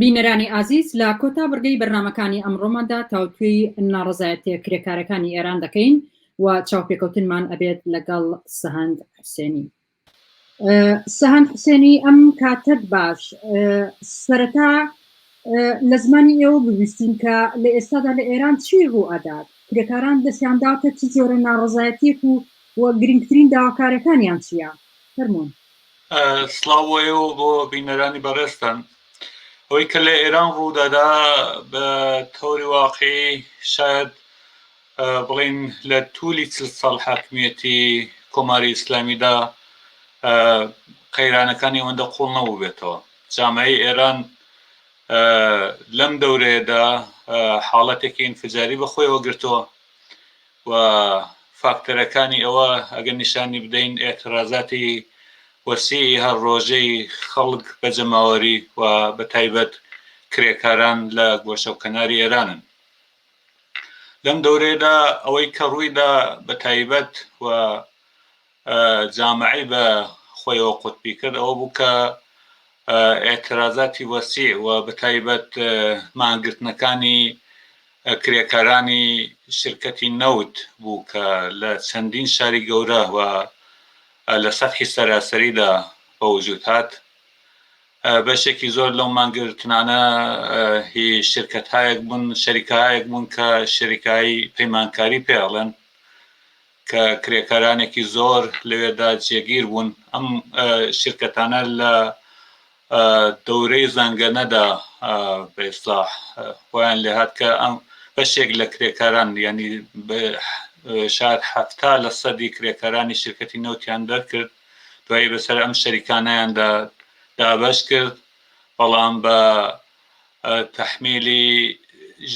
بینەرانی ئازیز لە کۆتا بڕگەی بەرنامەکانی ئەمڕۆماندا تاوتوێی ناڕەزایەتیە کرێکارەکانی ئێران دەکەین و چاوپێکەوتنمان ئەبێت لەگەڵ سەهەند حسێنی. سەهەند حسێنی ئەم کاتەت باش سەرەتا لە زمانی ئێوە ببیستین کە لە ئێستادا لە ئێران چی ڕوو ئەدات کرێکاران دەستیان داوتە چ جۆرە ناڕزایەتێک و و گرنگترین داواکارەکانیان چییە فەرمونون سڵاو بۆ ئێوە و بۆ بینەرانی بەڕێزتان ئەوەی کە لە ئێران ڕوودەدا بە تەوری واقعی شاید بڵین لە تولی چل ساڵ حاکمیەتی کۆماری ئیسلامیدا قەیرانەکانی ئەوەندە قوڵ نەبوو بێتەوە جامعی ئێران لەم دەورەیەدا حاڵەتێکی ئینفجاری بەخۆیەوە گرتووە و فاکتەرەکانی ئەوە ئەگەر نیشانی بدەین ئێعترازاتی وەسیعی هەر ڕۆژەی خەڵک بە جەماوەری و بە تایبەت کرێکاران لە گۆشە و کەناری ئێرانن لەم دەورەیەدا ئەوەی کە ڕوویدا بە تایبەت و جامعەی بە خۆیەوە قوتبی کرد ئەوە بوو کە ئێعترازاتی وەسیع و بەتایبەت مانگرتنەکانی کرێکارانی شرکەتی نەوت بوو کە لە چەندین شاری گەورە و لە سەتحی سەراسەریدا بە وجود هات بەشێکی زۆر لەو مانگرتنانە هی شرکەتهایەک بوون شەریکایەک بوون کە شەریکایی پەیمانکاری پێڵێن کە کرێکارانێکی زۆر لەوێدا جێگیر بوون ئەم شرکەتانە لە دەورەی زەنگەنەدا بەێستا خۆیان لێهات کە ئەم بەشێک لە کرێکاران ینی شار حفتا لە سەدی کرێکارانی شرکەتی نەوتیان دەرکرد دوایی بەسەر ئەم شەریکانیاندا دابش کرد بەڵام بە تەحمیلی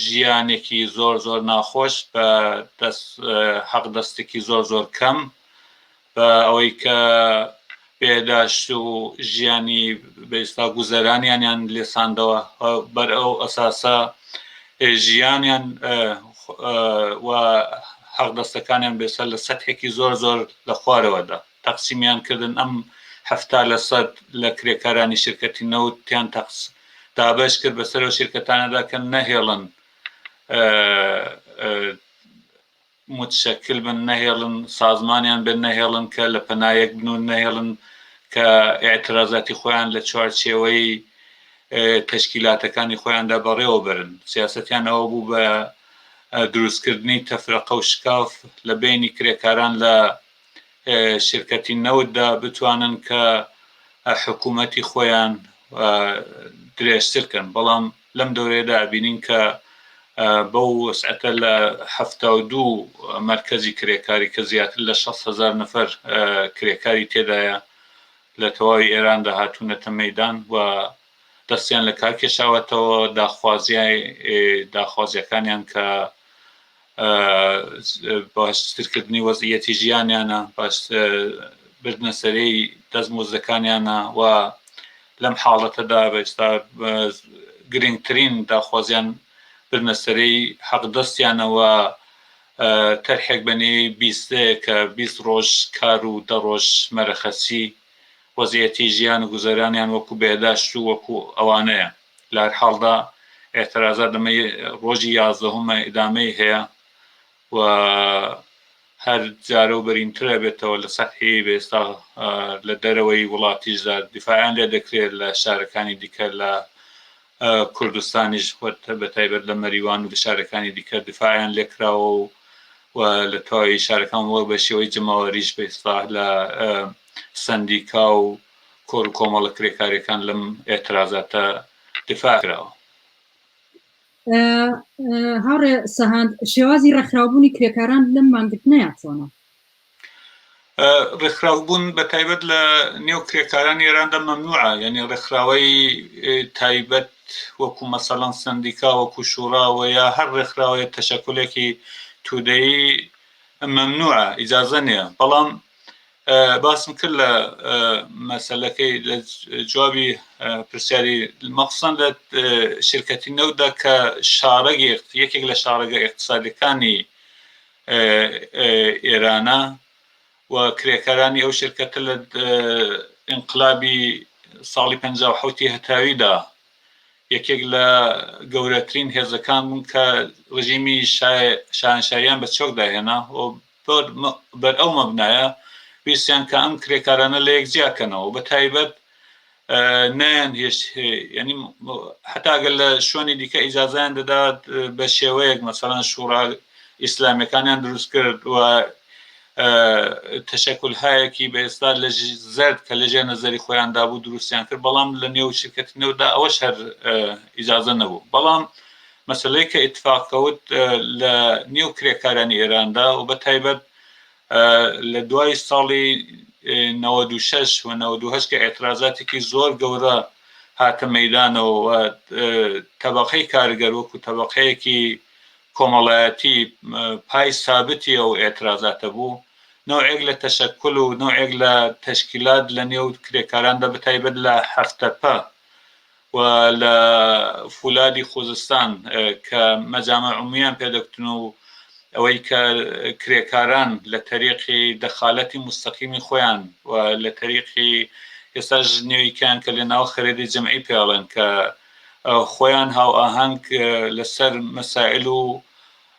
ژیانێکی زۆر زۆر ناخۆش بە دەست حەق دەستێکی زۆر زۆر کەم بە ئەوەی کە بێداشت و ژیانی بەئێستا گوزەرانیانیان لێساندەوە بەر ئەو ئەساسە ژیانیان و حەق دەستەکانیان بێسەر لە سەتحێکی زۆر زۆر لە خوارەوەدا تەقسیمیان کردن ئەم حەفتا لە سەد لە کرێکارانی شرکەتی نەوت تیان تەقس دابەش کرد بەسەر ئەو شرکەتانەدا کە نەهێڵن متشکل بن نەهێڵن سازمانیان بن نەهێڵن کە لە پەنایەک بنون نەهێڵن کە ئاعترازاتی خۆیان لە چوارچێوەی تشکیلاتەکانی خۆیاندا بەڕێوە برن سیاستیان ئەوە بوو بە دروستکردنی تەفرەقە و شکاف لە بینی کرێکاران لە شرکەتی نەوتدا بتوانن کە حکوومەتی خۆیان درێژتر کەن بەڵام لەم دەورەیەدا ئەبینین کە بەو وەسعەتە لە حەفتا و دوو مەرکەزی کرێکاری کە زیاتر لە شەست هەزار نەفەر کرێکاری تێدایە لە تەواوی ئێراندا هاتوونەتە مەدان و دەستیان لە کار کێشاوەتەوە داخوازیای داخوازیەکانیان کە باشترکردنی وەزعییەتی ژیانیانە، بردنە سەرێی دەستمۆزدەکانیانە و لەم حاڵەتەدا ئێستا گرنگترین داخوازیان بردنە سەرێی حەقدەستیانە و تەرحێک بە نێوی بیست دەیە کە بیست ڕۆژ کار و دە ڕۆژ مەرەخەسی وەزعییەتی ژیان و گوزەرانیان وەکو بێهداشت و وەکو ئەوانەیە. لەهەرحاڵدا ئێعترازات لەمەی ڕۆژی یازدەهەمە ئیدامەی هەیە و هەر جارەو بەرینترە بێتەوە لە سەتحی بێستا لە دەرەوەی وڵاتیشدا دیفاعیان لێ دەکرێت لە شارەکانی دیکە لە کوردستانیش خۆت بە تایبەت لە مەریوان و لە شارەکانی دیکە دیفاعیان لێکراوە و و لە تەواوی شارەکان وە بە شێوەی جەماوەریش بە ئیسلاح لە سندیکا و کۆڕ و کۆمەڵە کرێکاریەکان لەم ئێترازاتە دفاع کراوە. هاوڕێ سەهاند شێوازی ڕێکخراوبوونی کرێکاران لەم مانگرتنەیە چۆنە؟ ڕێکخراوبوون بە تایبەت لە نێو کرێکارانی ئێراندا مەمنوعە یعنی ڕێکخراوەی تایبەت وەکو مەسەڵەن سندیکا وەکو شوڕاوە یا هەر ڕێکخراوەیە تەشەکلێکی تودەی مەمنوعە ئیجازە نیە بەڵام باسم کرد لە مەسلەکەی لە جوابی پرسیاری مەخصن لە شرکەتی نەودا کە شارەگ یەکێک لە شارەگە اقتصادەکانی ئێرانە و کرێکارانی ئەو شرکەتە لە انقلابی ساڵی 1950 هەتاویدا یەکێک لە گەورەترین هێزەکان بوون کە ڕژیمی شانشاییان بە چۆک داهێنا و هەر بەر ئەو مەبنایە ویستیان کە ئەم کرێکارانە لە یەک جیا کەنەوە بە تایبەت نەیان هێشت ینی حتاگەل لە شوێنی دیکە ئیجازیان دەدات بە شێوەیەک مەسەران شوڕا ئیسلامیەکانیان دروست کرد و تەشەکل هایەکی بە ئێستا لە زرد کە لەژێ نەزەری خۆیان دابوو دروستیان کرد بەڵام لە نێو شرکەتی نەودا ئەوە شەر ئیجازە نەبوو بەڵام مەسەلەی کە ئیتفاق کەوت لە نێو کرێکارانی ئێراندا و بە تایبەت لە دوای ساڵی نەوەد و شەش و نەوەد و هەشت کە ئێترازاتێکی زۆر گەورە هاتە مەیدانەوە و تەبەقەی کارگەر وەکو تەبەقەیەکی کۆمەڵایەتی پای سابتی ئەو ئێترازاتە بوو نوعێک لە تەشەکل و نوعێک لە تەشکیلات لە نێو کرێکاراندا بەتایبەت لە هەفتەپە و لە فولادی خوزستان کە مەجامع عمومیان پێ دەکوتن و ئەوەی کە کرێکاران لە تەریقی دەخالەتی موستەقیمی خۆیان و لە تەریقی ئێستاش نێویکەیان کە لە ناو خەرێدی جەمعی پێ ئەڵێن کە خۆیان هاوئاهەنگ لە سەر مەسائل و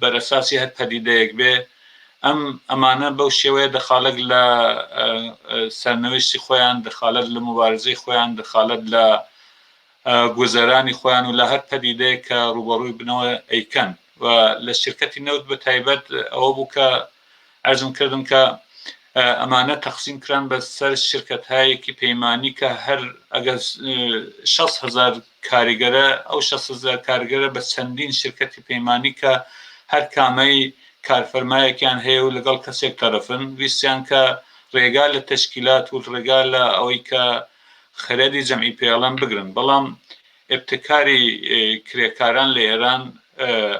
بەرەساسی هەر پەدیدەیەک بێ ئەم ئەمانە بەو شێوەیە دەخالەت لە سەرنوێشتی خۆیان دەخالەت لە موبارزەی خۆیان دەخالەت لە گوزەرانی خۆیان و لە هەر پەدیدەیە کە ڕوبەڕووی بنەوە ئەیکەن و لە شرکەتی نەوت بە تایبەت ئەوە بوو کە ئەرزم کردم کە ئەمانە تەقسیم کران بە سەر شرکەت هایەکی پەیمانانی کە هەر ئەگەر 6 هزار کاریگەرە، ئەو شەسەزار کارگەرە بە چەندین شرکەتی پەیمانی کە هەر کامەی کارفەرمایەکیان هەیە و لەگەڵ کەسێک تەرەفن، ویستیان کە رێگا لە تەشکیلات و رێگا لە ئەوەی کە خەرەدی جەمعی پێڵەم بگرن، بەڵام ئیبتکاری کرێکاران لە ئێران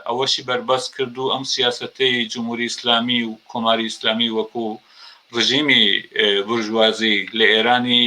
ئەوەشی بەربەست کرد و ئەم سیاسەتەی جمهوری ئیسلامی و کۆماری ئیسلامی وەکو رژیمی بورژوازی لە ئێرانی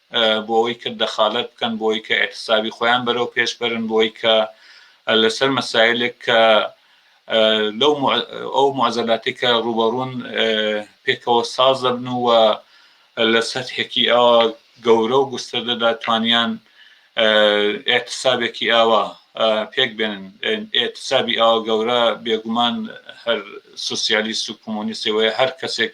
بۆوەی کە دەخالەت بکەن، بۆوەی کە ئیحتسابی خۆیان بەرەو پێش بەرن، بۆوەی کە لەسەر مەسایلێک کە لەو ئەو معزەلاتەی کە ڕووبەڕوون پێکەوە ساز دەبن و لە سەتحێکی ئەوە گەورە و گوستردەدا توانیان ئێتسابێکی ئاوا پێک بێنن ئێتسابی ئاوا گەورە بێگومان هەر سوسیالیست و کۆمۆنیستی وەیە هەر کەسێک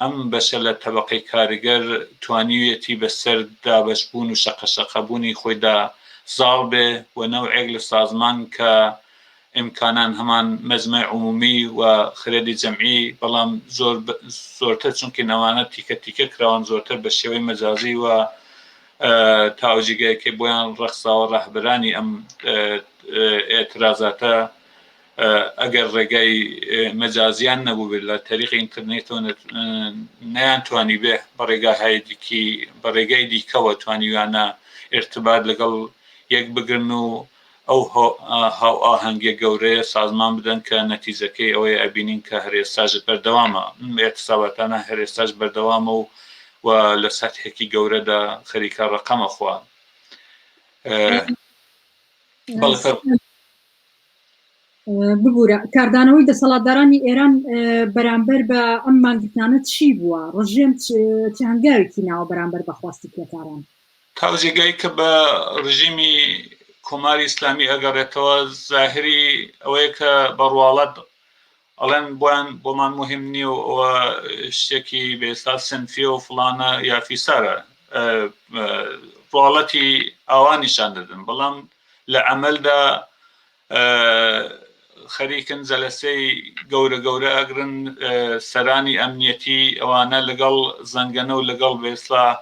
ئەم بەشە لە تەبەقەی کارگەر توانیویەتی بەسەر دابەشبوون و شەقەشەقەبوونی خۆیدا زاڵ بێ و نەوعێک لە سازمان کە ئیمکانان هەمان مەجمەع عمومی و خرێدی جەمعی بەڵام زۆر زۆرتر چونکین ئەوانە تیکە تیکە کراون زۆرتر بە شێوەی مەجازی و تا ئەو جێگایەی کە بۆیان ڕەخساوە ڕاهبرانی ئەم ئێعترازاتە ئەگەر ڕێگای مەجازیان نەبووبێت لە تەریقی ئینترنێتەوە نەیان توانی بێ بە ڕێگاهای دیکی بە ڕێگای دیکەوە توانیویانە ئرتبات لەگەڵ یەک بگرن و ئەو هاو ئاهەنگە گەورەیە سازمان بدەن کە نەتیجەکەی ئەوەی ئەبینین کە هەرێستاش بەردەوامە ئێتساباتانە هەرێستاش بەردەوامە و و لە سەتحێکی گەورەدا خەریکە ڕقەمە خوان بەڵ ببورە کاردانەوەی دەسەڵاتدارانی ئێران بەرامبەر بە ئەم مانگرتنانە چی بووە؟ ڕژێم چ هەنگاوێکی ناوە بەرامبەر بە خواستی کرێکاران؟ تاو جێگای کە بە ڕژیمی کۆماری ئیسلامی ئەگەڕێتەوە زاهری ئەوەیە کە بە ڕواڵەت ئەڵێن بۆیان بۆمان موهیم نیە و ئەوە شتێکی بە ئیسلاح سنفیە و فڵانە یا فیسارە ڤاڵەتی ئاوا نیشان دەدن بەڵام لە عەمەلدا خەریکن جەلەسەی گەورە گەورە ئەگرن سەرانی ئەمنیەتی ئەوانە لەگەڵ زەنگەنە و لەگەڵ بە ئیسلاح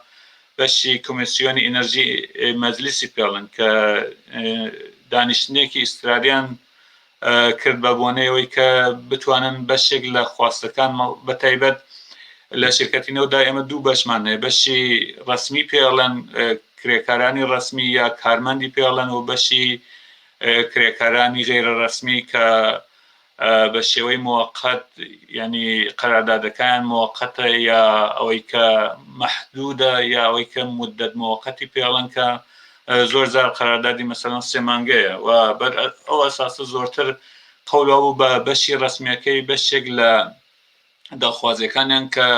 بەشی کۆمیسیۆنی ئینەرژی مەجلیسی پێڵن کە دانیشتنێکی ئیسراریان کرد بە بۆنەی ئەوەی کە بتوانن بەشێک لە خواستەکان بە تایبەت لە شرکەتی نەودا ئێمە دوو بەشمان هەیە بەشی ڕسمی پێڵەن کرێکارانی ڕسمی یا کارمەندی پێڵەن و بەشی کرێکارانی غێرە ڕسمی کە بە شێوەی موقت ینی قەرادادەکان موقتە یا ئەوەی کە مححدودە یا ئەوەی کە مدت موقتی پێڵەنکە زۆر جار قەراردادی مەسەلەن سێ مانگەیە و بەر ئەو ئەساسە زۆرتر قەولا بوو بە بەشی ڕسمیەکەی بەشێک لە داخوازیەکانیان کە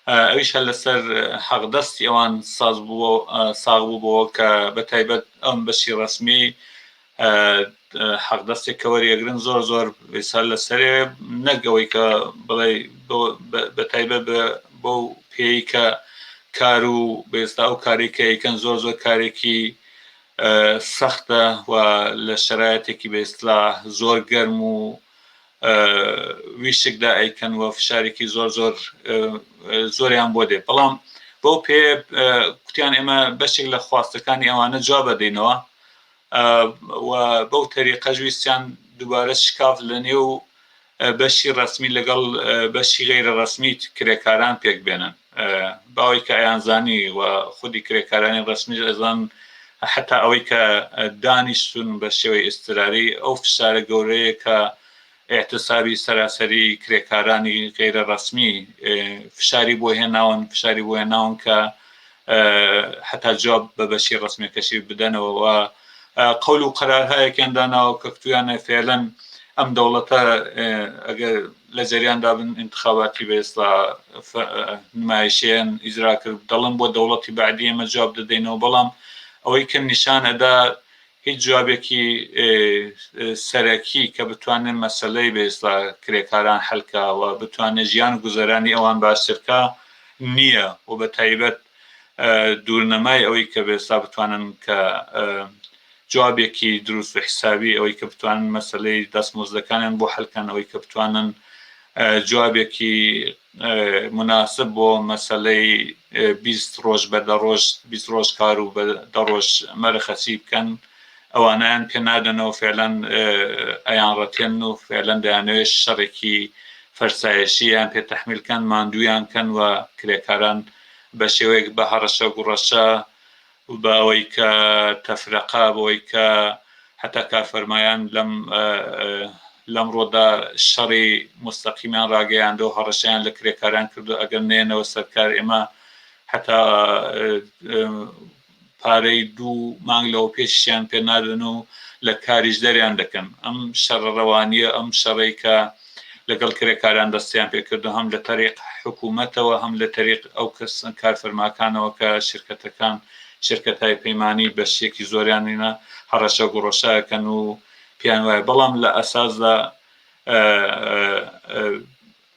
ئەویش هە لەسەر حەقدەستی ئەوان ساز بوو ساغ بوو بۆەوە کە بە تایبەت ئەم بەشی ڕسمی حەق دەستێک کە وەریەگرن زۆر زۆر سەر لە سەرێ نەک ئەوەی کە بڵێ بەتایبە بۆ پێی کە کار و بێستا و کارێکەکەن زۆر زۆر کارێکی سەختە و لە شرایەتێکی بێسلا زۆر گەرم و ویشکدا ئەیکەن و فشارێکی زۆر زۆر زۆریان بۆ دێ بەڵام بۆ پێ کوتیان ئێمە بەشێک لە خواستەکانی ئەوانە جواب بەدەینەوە و بەو تەریقەش ویستیان دووبارە شکاف لە نێو بەشی ڕەسمی لەگەڵ بەشی غەیرە ڕەسمی کرێکاران پێک بێنن باوەی کە ئەیانزانی و خودی کرێکارانی ڕەسمیش ئەزان حتا ئەوەی کە دانیشتون بە شێوەی ئستراری ئەو فشارە گەورەیە کە ئیعتسابی سەراسەری کرێکارانی غەیرە ڕەسمی فشاری بۆ هێناون فشاری بۆ هێناون کە حتا جواب بە بەشی ڕسمێکەشی بدەنەوە و قەول و قەرارهایەکیان داناوە کە کتویانە فێلەن ئەم دەوڵەتە ئەگەر لە جەریاندا بن انتخاباتی بەێستا نمایشیان ئیزرا کرد دەڵم بۆ دەوڵەتی بعدی ئمە جواب دەدەینەوە بەڵام ئەوەی کە نیشان ئەدا هیچ جوابێکی سەرەکی کە بتوانێ مەسەلەی بە ئیسڵاح کرێکاران حەل کا و بتوانێ ژیان و گوزەرانی ئەوان باشتر کا نییە و بە تایبەت دوورنەمای ئەوەی کە بە ئیسڵاح بتوانن کە جوابێکی دروست و حیسابی ئەوەی کە بتوانن مەسەلەی دەستمۆزدەکانیان بۆ حەل کەن ئەوەی کە بتوانن جوابێکی موناسب بۆ مەسەلەی بیست ڕۆژ بە دە ڕۆژ بیست ڕۆژ کار و بە دە ڕۆژ مەرەخەسی بکەن ئەوانەیان پێ نادەنەوە فێلەن ئەیان ڕەتێن و فێلەن دەیانەوێ شەڕێکی فەرسایەشی یان پێ تەحمیل کەن ماندویان کەن و کرێکاران بە شێوەیەک بە هەڕەشە گوڕەشە بە ئەوەی کە تەفرەقە بە ئەوەی کە هەتا کار فەرمایان لەم لەم ڕۆدا شەڕی مستەقیمیان ڕاگەیاندەوە هەڕەشەیان لە کرێکاران کردو ئەگەر نێنەوە سەرکار ئێمە هەتا پارەی دوو مانگ لەوە پێشیان پێ نادەن و لە کاریش دەریان دەکەن ئەم شەڕە ڕەوانیە ئەم شەڕێکە لەگەڵ کرێکاران دەستیان پێکردو هەم لە تەریق حکومەتەوە هەم لە تەریق ئەو کەس کارفەرماکانەوە کە شرکەتەکان شرکەتای پەیمانی بەشیەکی زۆریانینا هەڕەشە گوڕەشاکەن و پێیان وایە بەڵام لە ئەساسدا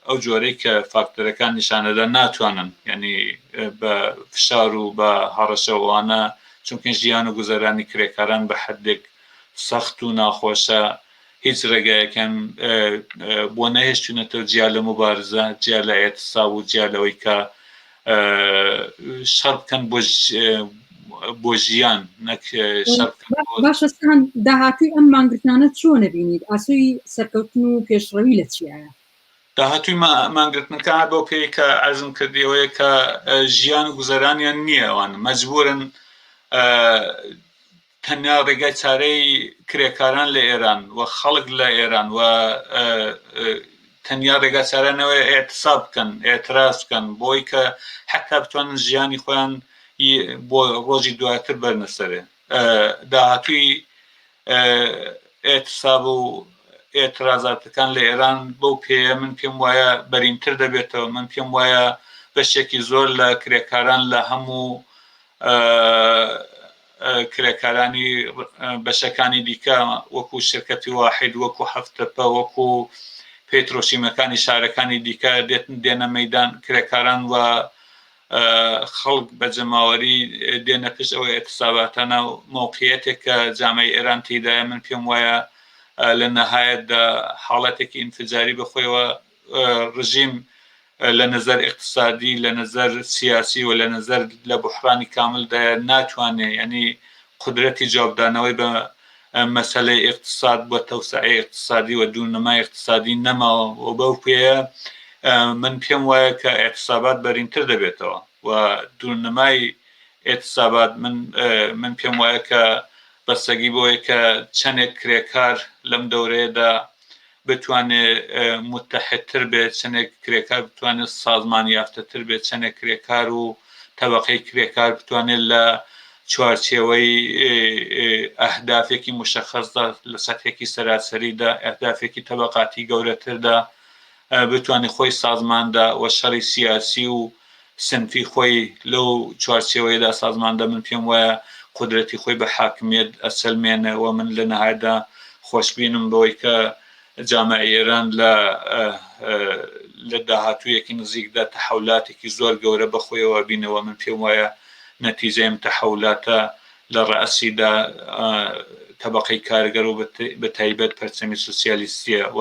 ئەو جۆرەی کە فاکتەرەکان نیشانەدا ناتوانن ینی بە فشار و بە هەڕەشەوانە چونکە ژیان و گوزەرانی کرێکاران بە حدێک سەخت و ناخۆشە هیچ رێگایەکیان بۆ نەهێشتونەتەوە جیا لە موبارزە، جیا لە ئێعتساب و جیا لەوەی کە شەڕ بکەن بۆ بۆ ژیان نەک باشە سەند داهاتووی ئەم مانگرتنانە چۆنە بینیت ئاسوی سەرکەوتن و پێشڕەوی لە چیایە داهاتوی مانگرتنەکە بۆ پێی کە ئەزم کردیەوەیە کە ژیان و گوزەرانیان نییە ئەوان مەجبورن تەنیا ڕێگای چارەی کرێکاران لە ئێران و خەڵک لە ئێران و تەنیا ڕێگا چارانەوەی ئێتسا بکەن ئێتراز بکەن بۆی کە حتا بتوانن ژیانی خۆیان بۆ ڕۆژی دواتر بەرنەسەرێ داهاتوی ئێتساب و ئێترازاتەکان لە ئێران بەو پێەیە من پێم وایە بەرینتر دەبێتەوە من پێم وایە بەشێکی زۆر لە کرێکاران لە هەموو کرێکارانی بەشەکانی دیکە وەکو شرکەتی واحد وەکو هەفتەپە وەکو پێترۆشیمەکانی شارەکانی دیکە دێتن دێنە مەدان کرێکاران و خەڵک بە جەماوەری دێنە پشت ئەوەی ئەتساباتانە و مۆقیەتێک کە جامعی ئێران تیدایە من پێم وایە لە نەهایەتدا حاڵەتێکی ئینفجاری بەخۆیەوە ڕژیم لە نەزەر ئیقتسادی لە نەزەر سیاسی و لە نەزەر لە بوحڕانی کامل دایە ناتوانێ یانی قودرەتی جوابدانەوەی بە مەسەلەی ئیقتساد بە تەوسعی ئیقتسادی و دوو نمای ئیقتسادی نەماوە و بەو پێیە من پێم وایە کە ئیقتسابات بەرینتر دەبێتەوە و دوو نمای ئیقتسابات من من پێم وایە کە بەسەگی بۆیە کە چەندێک کرێکار لەم دەورەیەدا بتوانێت موتەحیدتر بێت، چەندێک کرێکار بتوانێت سازمان یافتەتر بێت، چەندێک کرێکار و تەبەقەی کرێکار بتوانێت لە چوارچێوەی ئەهدافێکی موشەخەسدا، لە سەتحێکی سەراسەریدا، ئەهدافێکی تەبەقاتی گەورەتردا بتوانێت خۆی سازماندە و شەڕی سیاسی و سنفی خۆی لەو چوارچێوەیەدا سازماندە من پێم وایە قودرەتی خۆی بە حاکمیەت ئەسەلمێنێ و من لە نەهایەتدا خۆشبینم بەوەی کە جامعەی ئێران لە لە داهاتوویەکی نزیکدا تەحەولاتێکی زۆر گەورە بە خۆیەوە ئەبینێ و من پێم وایە نەتیجەی ئەم تەحەولاتە لە ڕەئسیدا تەبەقەی کارگەر و بە تایبەت پەرچەمی سۆسیالیستیە و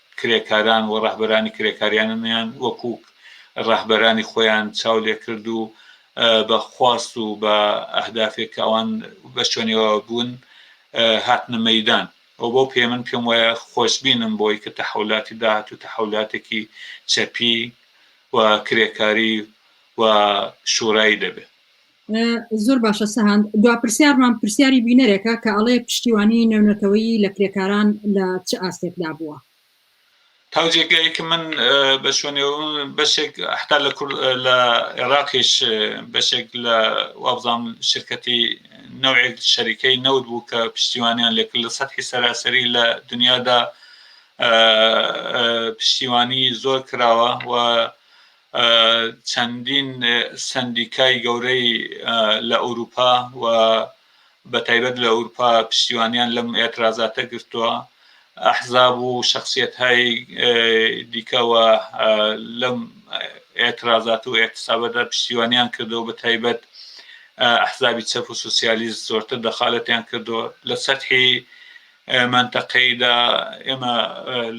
کرێکاران و ڕەهبەرانی کرێکاریاننیان وەکو ڕەهبەرانی خۆیان چاو لێکرد و بە خواست و بە ئەهدافێک کە ئەوان بە شوێنەوە بوون هاتنە مەدان ئەو بۆ پێ من پێم وایە خۆشببینم بۆی کە تەحولاتی داهات و تەحولاتێکی چەپی و کرێکاری و شوورایی دەبێت زۆر باشە سەهند دوا پرسیارمان پرسیاری بینەرێکە کە ئەڵێ پشتیوانی نێونەتەوەیی لە کرێکاران لە چ ئاستێکدا بووە تاجێکەیە کە من بە شوێنێ بەشێک حتا لە کورد لە عێراقیش بەشێک لە وابزان شرکەتی نەوێک شەریکەی نەوت بوو کە پشتیوانیان لێک لە سەحی سەراسەری لە دنیادا پشتیوانی زۆر کراوە و چەندین سەندیکای گەورەی لە ئەوروپا و بە تایبەت لە ئەورپا پشتیوانیان لەم ئێترازاتە گرتووە ئەحزاب و شخصیت های دیکە و لەم ئێترازات و ئێتسابەدا پشتیوانیان کردەوە بە تایبەت ئەحزابی چەپ و سوسیالیست زۆرتر دەخالەتیان کردەوە لە سەرحی منتەقەیدا ئێمە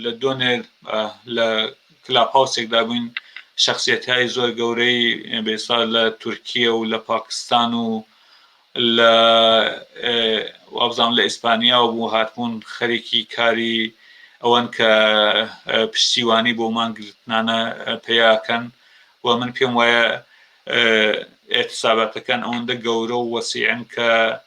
لە دۆنێ لە کلاپهاوسێکدا بووین شەخسیەتهای زۆر گەورەی بێسا لە تورکیە و لە پاکستان و لە وابزانم لە ئیسپانیا بوو هاتبوون خەریکی کاری ئەوەن کە پشتیوانی بۆ مانگرتنانە پیاکەن و من پێم وایە ئێتساباتەکان ئەوەندە گەورە و وەسیعن کە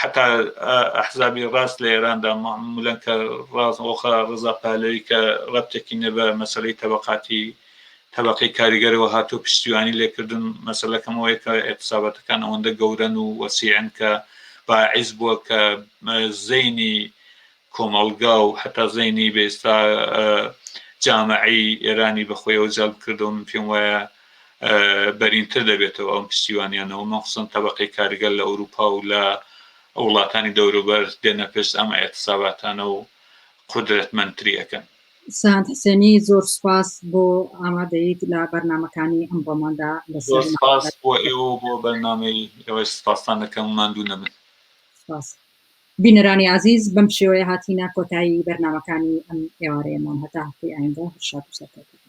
حەتا ئەحزابی ڕاست لە ئێراندا ملەن کە ڕاست ئۆخە ڕزا پالەوی کە ڕەبتەکی نە بە مەسەلەی تەبەقاتی تەبەقەی کاریگەرەوە هاتوو پشتیوانی لێکردن مەسەلەکەمەوەی کە ئێتسابەتەکان ئەوەندە گەورەن و وەسیعن کە باعیس بووە کە زەینی کۆمەڵگا و هەتا زەینی بە ئێستا جامەعەی ئێرانی بە خۆیەوە جەلب کردەوە، من پێم وایە بەرینتر دەبێتەوە ئەم پشتیوانیانەوە، مەخسوسەن تەبەقەی کارگەر لە ئەوروپا و لە وڵاتانی دەوروبەر دێنە پشت ئەم ئیعتساباتانە و قودرەتمەندتری ئەکەن. سەند حسێنی، زۆر سوپاس بۆ ئامادەییت لە بەرنامەکانی ئەمڕۆماندا لەسەر مەحاڵات. زۆر سوپاس بۆ ئێوە و بۆ بەرنامەی ئێوەش سوپاستان ئەکەم، ماندوو نەبن. سوپاس. بینەرانی ئازیز بەم شێوەیە هاتینە کۆتایی بەرنامەکانی ئەم ئێوارەیەمان هەتا هەفتەی ئایندە هەر شاد و سەرکەوتوو بن.